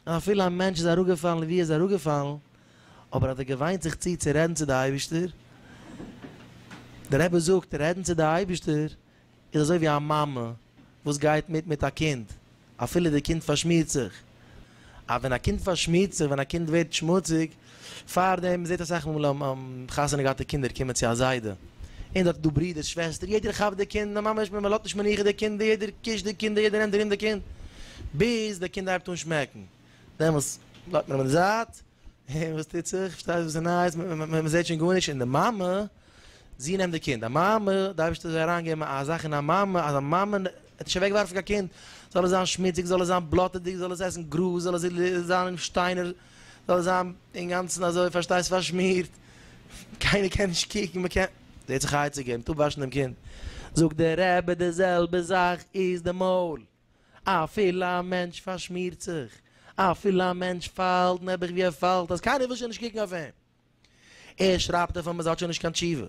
און אפילו א מענטש איז אראפגעפאלן ווי ער איז אראפגעפאלן, אבער האט ער געוויינט זיך צו צו רעדן צו די אייבישטער, דער רבי זאגט, רעדן צו די אייבישטער איז אזוי ווי א מאמע וואס גייט מיט מיט א קינד אפילו די קינד פארשמירט זיך, אז ווען א קינד פארשמירט זיך, ווען א קינד ווערט שמוציג, פארדעם מ'זעט אסאך מאל חתונה געהאטע קינדער קומען צו א זיידע, און דארט איז דא ברידער שוועסטער, יעדער כאפט די קינד, די מאמע מען לאזט נישט מנוחה די קינדער, יעדער קישט די קינדער, יעדער נעמט ארום די קינד, ביז די קינד הייבט אן שמעקן, דעמאלס לייגט מען אים אין די זייט, אה, וואס טוט זיך? פארשטייסט וואס איז נייעס? מען זעט שוין גארנישט אין די מאמע, זי נעמט די קינד. א מאמע, די אייבערשטער זאל אריינגעבן א זאך אין א מאמע, אז א מאמע וועט נישט אוועקווארפן קיין קינד, זאל עס זיין שמוציג, זאל עס זיין בלאטעדיג, זאל עס עסן גראז, זאל עס זיין אין שטיינער, זאל עס זיין אינגאנצן אזוי, פארשטייסט, פארשמירט, קיינער קען נישט קוקן, מען קען, זי האט זיך עצה געגעבן, טאפ וואשן דעם קינד. זאגט דער רבי, די זעלבע זאך איז די מויל. אפילו א מענטש פארשמירט זיך, אפילו א מענטש פאלט נעבעך ווי ער פאלט אז קיינער וויל שוין נישט קוקן אויף אים, ער שרייבט דערפון אז ער האט שוין נישט קיין תשובה,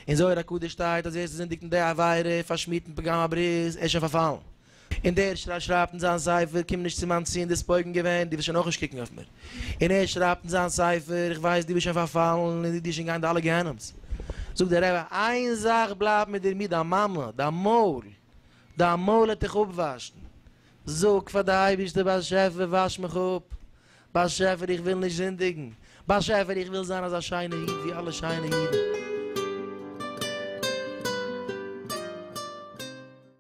אין זוהר הקדוש שטייט אז ווער ס'זינדיגט אין די עבירה און פארשמירט אין פגם הברית, ער איז שוין פארפאלן. און דער שרייבט אין זיין ספר קום נישט צו מיין צו און די ספויגן געווען, דו וועסט שוין אויך נישט קוקן אויף מיר. און ער שרייבט אין זיין ספר איך ווייס דו ביסט שוין פארפאלן און איך זע דיר שוין גיין די אלע גיהנום'ס. זאגט דער רבי איין זאך בלייבט מיט דיר מי דיין מאמע, דיין מויל, דיין מויל העט איך אפוואשן. זאג פאר די אייבערשטער באשעפער וואש מיך אפ. באשעפער איך וויל נישט זינדיגן. באשעפער איך וויל זיין אזא שיינע איד ווי אלע שיינע אידן.